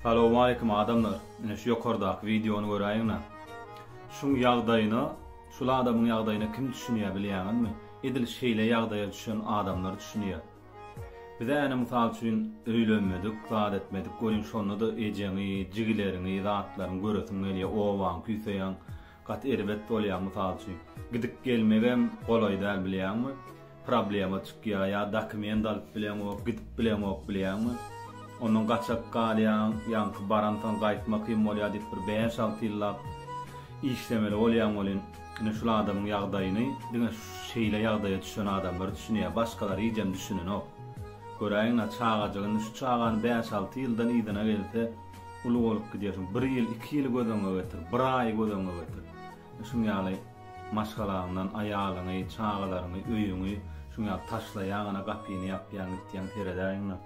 Salowmaleýkim adamlar ine şu ýokardaky wideony göräýiňda şuň ýagdaýyna şul adamyň ýagdaýyna kim düşünýä bilýäňizmi edil şeýle ýagdaýa düşen adamlar düşünýä bize äne mysal üçin öýlenmedik zat etmedik welin şondada ejeňi jigileriňi zatlaryňy göresiň gelýä obaň küýseýäň Gaty erbet bolýa mysal üçin gidip gelmegem golaý däl bilýäňmi problema çykýa ýa dokument alyp bileňok gidip bileňok bilýäňmi ondan gaçak galýaň ýaňky baransoň gaýtmak kyn bolýa diýip bir bäş alty ýyllap işlemeli bolýaň welin ine şul adamyň ýagdaýyny diňe şeýle ýagdaýa düşen adamlar düşünýä başgalar hijem düşünenok göräýiňä çagajygyny şu çagany bäş alty ýyldan yzyna gelse Uly bolup gidýärsiň. Bir ýyl, iki ýyly göz öňüňe getir. Bir aýy göz öňüňe getir. Şuň ýaly maşgalaňdan, aýalyňy, çagalaryňy, öýüňi şuň ýaly taşlaýaň, ana gapyny ýapýaň, gitýäň, seredäýiň-le.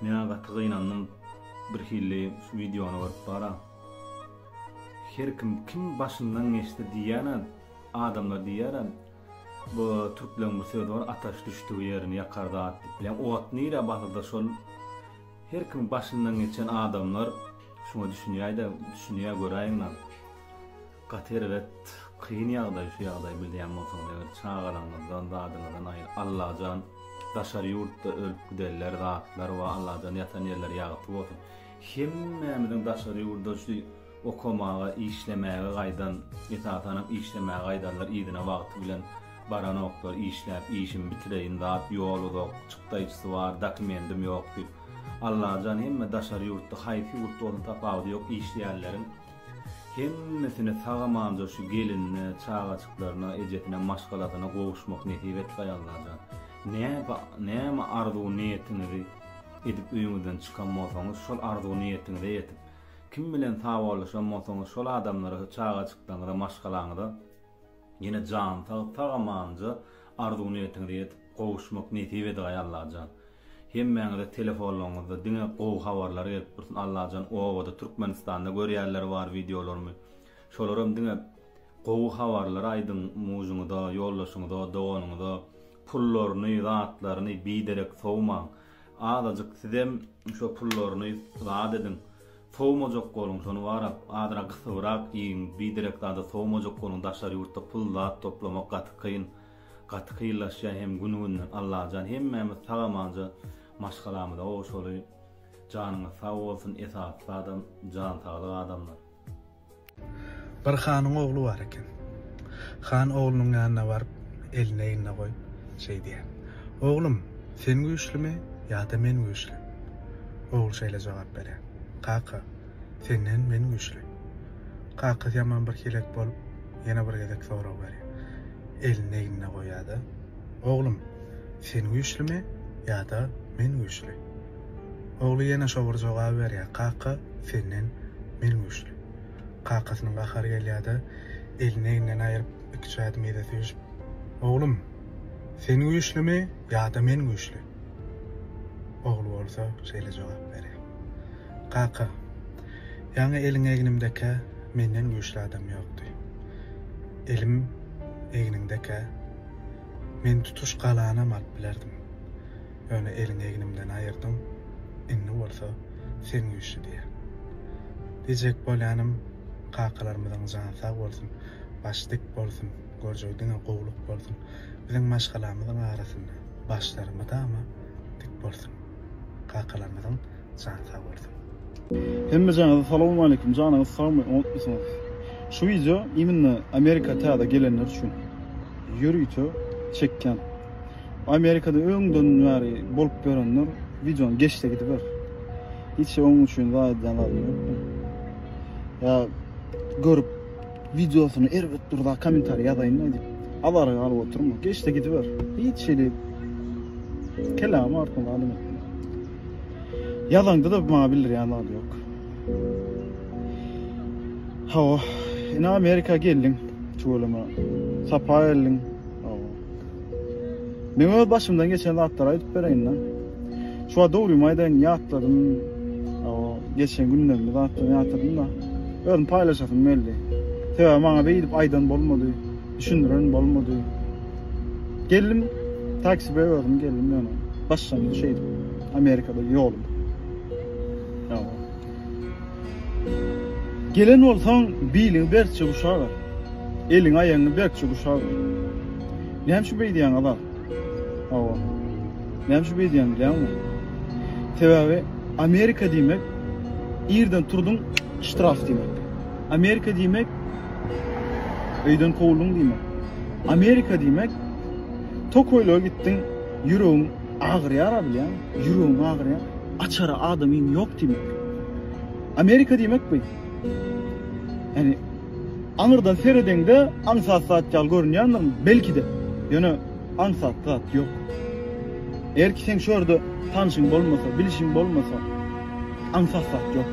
Men-ä gaty gynandym. Birhili şu wideony görüp bar-a. Her kim, kim başyndan geçse diýýän-ä, adamlar diýýär-ä, bu türkleriň bir sözi bar, Ataş düşdügi ýerini ýakar zat diýip. Bileň, ot nirä basylsa, şol Her kim başyndan geçen adamlar şuňa düşünýäýdä düşünýä göräýiňla gaty erbet kyn ýagdaý şu ýagdaý bilýän bolsaňyz eger çagalaňyzdan zadyňyzdan aýry Allajan daşary ýurtda ölüp gidenler zatlar wa Allajan ýatan ýerleri ýagty bolsun hemmämiziň daşary ýurda şu okamaga, işlemäge gaýdan, esasanam işlemäge gaýdanlar yzyna wagty bilen baranoklar, işläp, işimi bitireýin, zat ýol uzak, çykdaýjysy bar, dokumendim ýok diýip. Allajan hemme daşary ýurtda, haýsy ýurtda bolsun tapawudy ýok, işleýänleriň hemmesine sag-amanja şu gelinine, çagajyklaryna, ejesine, maşgalasyna gowuşmak nesip etgaý Allajan. Näme näme arzuw-niýetiňizi edip öýüňizden çykan bolsaňyz, şol arzuw-niýetiňize ýetip, Kim bilen sawollaşan bolsaňyz şol adamlara we çagajyklaryňyza maşgalaňyza ýene jan sag sag amanja arzuw niýetiňize ýetip gowuşmak nesip edegaý Allajan hemmäňize telefonlaryňyzda diňe gowy habarlar gelip dursun Allajan obada Türkmenistanda görýärler bar wideolarymy şolaram diňe gowy habarlar aýdyň mujyňyza ýoldaşyňyza doganyňyza pullaryny zatlaryny biderek sowmaň Azajyk sizem şo pullaryny zat ediň. Sowmajak boluň şony barap, azrak gysybrak iýiň, biderek zada sowmajak boluň daşary ýurtda pul zat toplamak gaty kyn. Gaty kynlaşýa hem gün günden Allajan hemmämiz sag amanja maşgalamyza gowşaly. Janyňyz sag bolsun esasy zadam jan saglyk adamlar. Bir hanyň ogly bar eken. Han oglunyň ýanyna baryp, elini egnine goýup, şeý diýýär, Oglum, sen güýçlimi ýa-da men güýçli? Ogul şeýle jogap berýär, Kaka, senden men güýçli. Kakasy ýaman bir helek bolup, ýene bir gezek sorag berýär. Elini egnine goýýar-da, Oglum, sen güýçlimi ýa-da men güýçli? Ogly ýene şo bir jogaby berýär, Kaka, senden men güýçli. Kakasynyň gahary gelýär-de, elini egninden aýryp, iki çädimi ýere süýşüp, Oglum, sen güýçlimi ýa-da men güýçli? Ogly bolsa şeýle jogap berýär, Kaka, ýaňy eliň egnimdekä menden güýçli adam ýokdy. Elim egniňdekä, men tutuş galanam alyp bilerdim. Ýöne eliňi egnimden aýyrdyň, indi bolsa sen güýçli diýýär. Diýjek bolýanym, kakalarymyzyň jany sag bolsun, başy dik bolsun, görjegi diňe gowulyk bolsun, biziň maşgalamyzyň arasynda başlary mydama dik bolsun. Kakalarymyzyň jany sag bolsun. Hemmejaňyza salowmaleýkim janyňyz sagmy oňatmysyňyz şu wideo immina amerika täze gelenler üçin ýörite çekýän. Amerikada öňden bäri bolup görenler videony geçse gidiber. Hiç onun üçin zaýadan almyp. Ya görüp videosunu erbet durda komentariy yazaýyn da diýip. Alara galyp oturma. Geçse gidiber. Hiç şeýle kelam artma adam etme. Yazaňda da maňa bildirýän zat ýok. Hawa, ina Amerika geldiň, tüweleme. Sapa geldiň. Men öz başymdan geçen zatlary aýdyp bereýin-de. Şu wagt dogrymy aýdaýyn, ýatladym. O geçen günlerimi zatlaryny ýatladym da. Özüm paýlaşasym geldi. Sebäbi maňa beýdip aýdan bolmady, düşündiren bolmady. Geldim, taksi bilen özüm geldim ýöne. Başlangyç şeýdip, Amerikada ýolum. Ýa. Gelen bolsaň, biliňi berkje guşaga. Eliňi-aýagyňy berkje guşaga. Näme üçin beýdýäň, Azat? Hawa. Näme üçin beýdýän bilýäňmi? Sebäbi Amerika diýmek irden turduň ştraf diýmek. Amerika diýmek öýden kowuldyň diýmek. Amerika diýmek tokoýla gitdiň ýüregiň Agyrýara bilýäň, ýüregiň agyrýa. Açara adamyň ýok diýmek. Amerika diýmek bu. Ýani aňyrdan seredeňde aňsat zat ýaly görünýändir belki-de. Ýöne aňsat zat ýok. Eger ki seň şu ýerde tanşyň bolmasa, bilişiň bolmasa, aňsat zat ýok.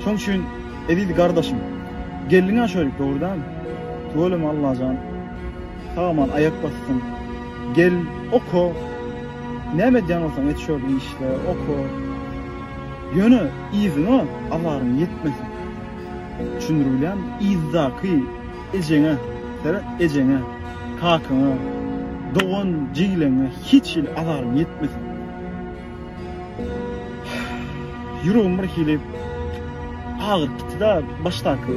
Şoň üçin eziz gardaşym, geldiňä şeýle dogry däl. Tüweleme Allajan. Sagaman aýak basdym. Gel, oka. Näme edýän bolsaň et şol işle, oka. Ýöne yzyňa azaryň ýetmesin. Düşündirbilýän, yzdaky ejeňe, seret, ejeňe, kakaňa, dogan-jigileňe hiç hili azaryň ýetmesin. Ýüregim bir hili agyryp gitdi-de, başdaky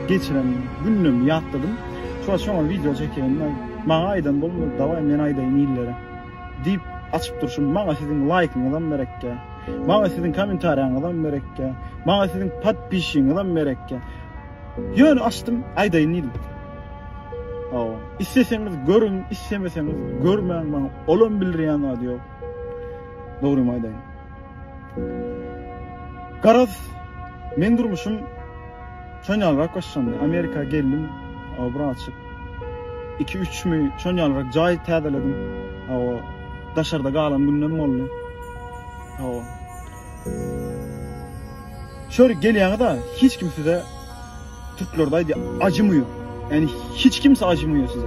geçiren günlerimi ýatladym. Şuňa şoňa wideo çekýän, maňa aýdan bolma, dawaý men aýdaýyn illere. Diýip açyp durşum, maňa siziň laýkyňyzam merekkä. Maňa siziň kommentariýaňyzam merekkä. Maňa siziň podpisiňizam merekkä. Ýöne açdym, aýdaýyn diýdim. Hawa, isleseňiz görüň, islemeseňiz görmäň, maňa olam bildirýän zady ýok. Dogrymy aýdaýyn. Garaz, men durmuşym çönýalrak başlandy. Amerika geldim, obra açyp. 2-3 mi çönýalrak jaý täzeledim. Awa, daşarda galan günlerim boldy. Awa. Şöyle gelýäňiz-a, hiç kim size Türklerde aýdy acımıyor. Yani hiç kimse acımıyor size.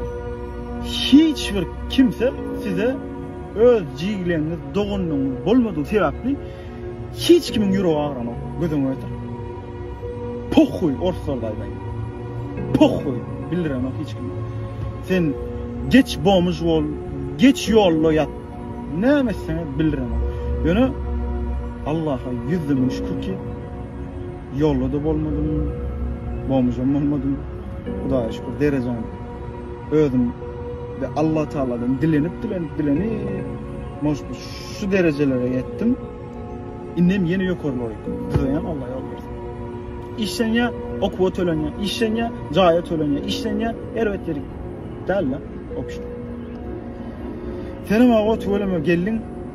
Hiç bir kimse size öz cigleňiz, dogunluňyz bolmadyğı sebäpli hiç kimin ýüregi agran ok. Gözüň ötür. Pohuy orslar daýdaý. Pohuy bildiren ok hiç kim. Sen geç bomuş bol, geç ýolda ýat. Näme sen bildiren ok. Ýöne Allah'a ýüzümiň şükür ki Ýolda-da bolmadym, bomžam bolmadym. Hudaýa şükür, derejäm özüm we Allatagaladan dilenip, dilenip, dilenip, moş bir şu derejelere ýetdim. Indem ýene ýokarlara ýetdim. Düzeýän Alla ýol bersin. Işlenýä, okuwa tölenýä, işlenýä, jaýa tölenýä, işlenýä, erbet ýeri däl-de, obşir. Senem aga, tüweleme, geldiň.